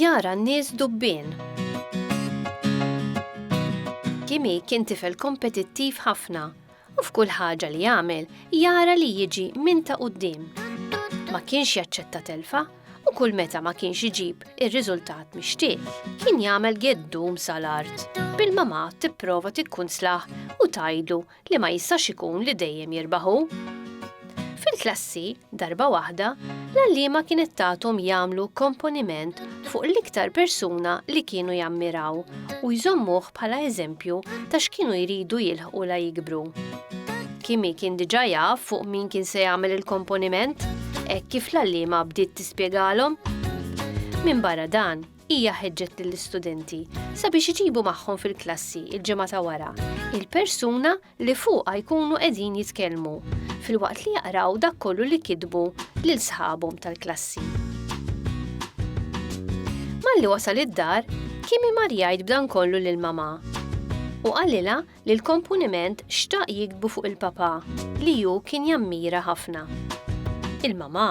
Jara n-nies dubbien. Kimi kien tifel kompetittiv ħafna u f'kull ħaġa li jagħmel jara li jiġi minn ta' qudiem. Ma kienx jaċċetta telfa u kull meta ma kienx iġib ir-riżultat mixtieq, kien jagħmel geddum sa l-art, bil-mamà tipprova tikkunslah u tgħidlu li ma jistax ikun li dejjem jirbaħ hu. Fil-klassi, darba waħda, l-għalliema kienet tathom jagħmlu komponiment fuq l-iktar persuna li kienu jammiraw u jżommuh bħala eżempju ta' x'kienu jridu jilħqu la jikbru. Kimi kien diġà jaf fuq min kien se jagħmel il-komponiment, hekk kif l-għalliema bdiet tispjegalhom. Minn barra dan, hija ħeġġet lill-istudenti sabiex iġibu magħhom fil-klassi il-ġimgħa ta' wara il-persuna li fuqha jkunu qegħdin jitkellmu filwaqt li jaqraw dak kollu li kitbu lil sħabhom tal-klassi. Malli wasal id-dar, Kimi mar jgħid b'dan kollu lil mamà u qalilha li l-komponiment xtaq jiktbu fuq il-papà li hu kien jammira ħafna. Il-mamà,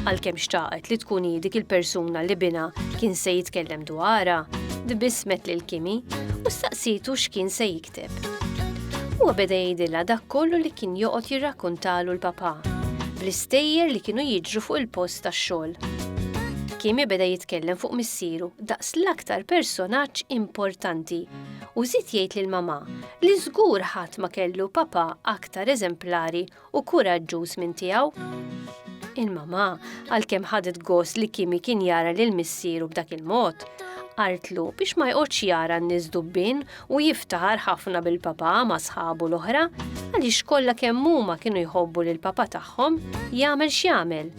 għalkemm xtaqet li tkun hi dik il-persuna li binha kien se jitkellem dwarha, tbissmet lil Kimi u staqsietu x'kien se jikteb. Huwa beda jgħidilha dak kollu li kien joqgħod jirrakkuntalu l-papà, bl-istejjer li kienu jiġru fuq il-post tax-xogħol. Kimi beda jitkellem fuq missieru daqs l-aktar personaġġ importanti u żied jgħid lil mamà li żgur ħadd ma kellu papà aktar eżemplari u kuraġġuż minn tiegħu. Il-mamà, għalkemm ħadet gost li Kimi kien jara lil missieru b'dak il-mod, qaltlu biex ma jqgħodx jara n-nies dubbien u jiftaħar ħafna bil-papà ma' sħabu l-oħra għaliex kollha kemm huma kienu jħobbu lill-papà tagħhom jagħmel x'jagħmel.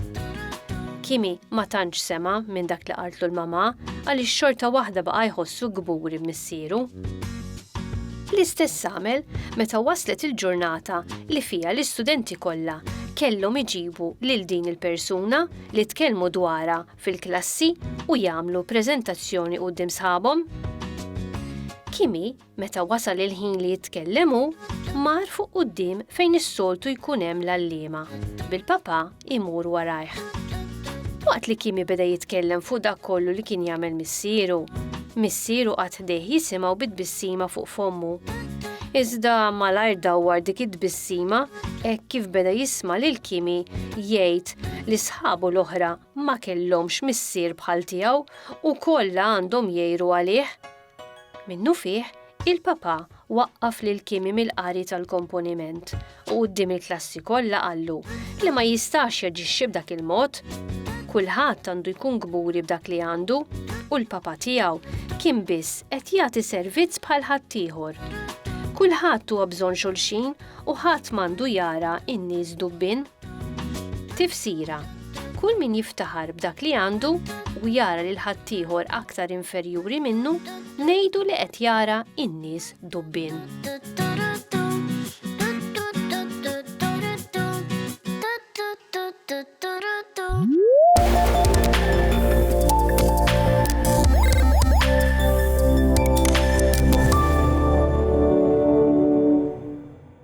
Kimi ma tantx sema' minn dak li qaltlu l-mamà għaliex xorta waħda baqa' jħossu kburi missiru. L-istess għamel meta waslet il-ġurnata li fiha l-istudenti kollha kellhom iġibu lil din il-persuna li tkellmu dwarha fil-klassi u jagħmlu preżentazzjoni quddiem sħabhom. Kimi, meta wasal il-ħin li jitkellem hu, mar fuq quddiem fejn is-soltu jkun hemm l-għalliema, bil-papà imur warajh. Waqt li Kimi beda jitkellem fuq dak kollu li kien jagħmel missieru, missieru qagħad ħdejh jisimgħu bi tbissima fuq fommu. Iżda malajr dawwar dik it-tbissima hekk kif beda jisma' lil Kimi jgħid li sħabu l-oħra ma kellhomx missier bħal tiegħu u kollha għandhom jgħiru għalih. Minnufih, il-Papa waqqaf lil Kimi mill-qari tal-komponiment u quddiem il-klassi kollha qallu li ma jistax jaġixxi b'dak il-mod. Kulħadd għandu jkun kburi b'dak li għandu u l-Papa tiegħu kien biss qed jagħti servizz bħal ħaddieħor. Kulħadd huwa bżonn xulxin u ħadd m'għandu jara n-nies dubbien. Tifsira, Kull min jiftaħar b'dak li għandu u jara lil ħaddieħor aktar inferjuri minnu, ngħidu li qed jara in-nies dubbin.